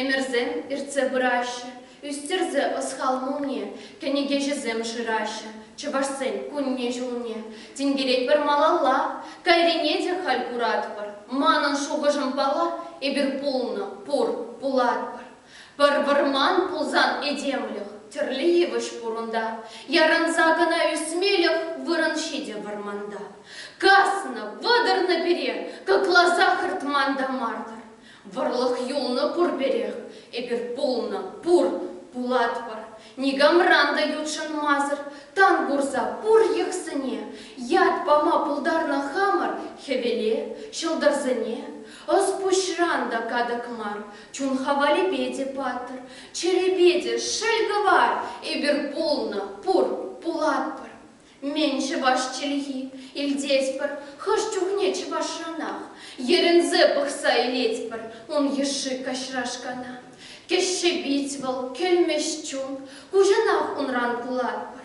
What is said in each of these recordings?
Ӗмӗрсем иртсе пыраҫҫӗ, ӳстерсе ӑс-хал мулне, кӗнекеҫӗсем шыраҫҫӗ чӑвашсен кунне-ҫулне. Тинкеретпӗр малалла, кайрине те халь куратпӑр. Манӑн шухӑшӑм пала, эпир пулнӑ, пур, пулатпӑр. Пӗр вӑрман пулсан этемлӗх тӗрлӗ йывӑҫ пур унта. Ярӑнса кӑна ӳсмелӗх вырӑн ҫитӗ вӑрманта. Каснӑ, вӑтӑрнӑ пире, кӑкласа хӑртман та мар-тӑр. Вӑрлӑх юлнӑ пурпӗрех, эпир пулнӑ, пур, пулатпӑр. Никамран та ютшӑнмасӑр тан курса пур йӑхсене ят пама пултарнӑ хамӑр хӗвеле, ҫӑлтӑрсене. Ӑс-пуҫран та катӑк мар, Чунха валипе те паттӑр, чӗрепе те шел кӑвар, эпир пулнӑ, пур, пулатпӑр. Мӗн чӑваш чӗлхи, илтетпӗр хӑш чухне чӑвашранах, йӗрӗнсе пӑхса илетпӗр ун йышши каҫрашкана. Кӗҫҫе пит вӑл, кӗлмӗҫ чун, куҫӑнах унран кулатпӑр.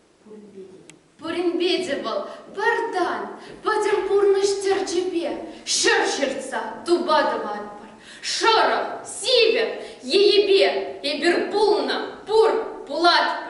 Пуринпе те вӑл пӗр тан, пӗтӗм пурнӑҫ тӗрчипе ҫӗр ҫыртса тупа тӑватпӑр. Шӑрӑх, сивӗ енӗпе эпир пулнӑ, пур, пулатпӑр.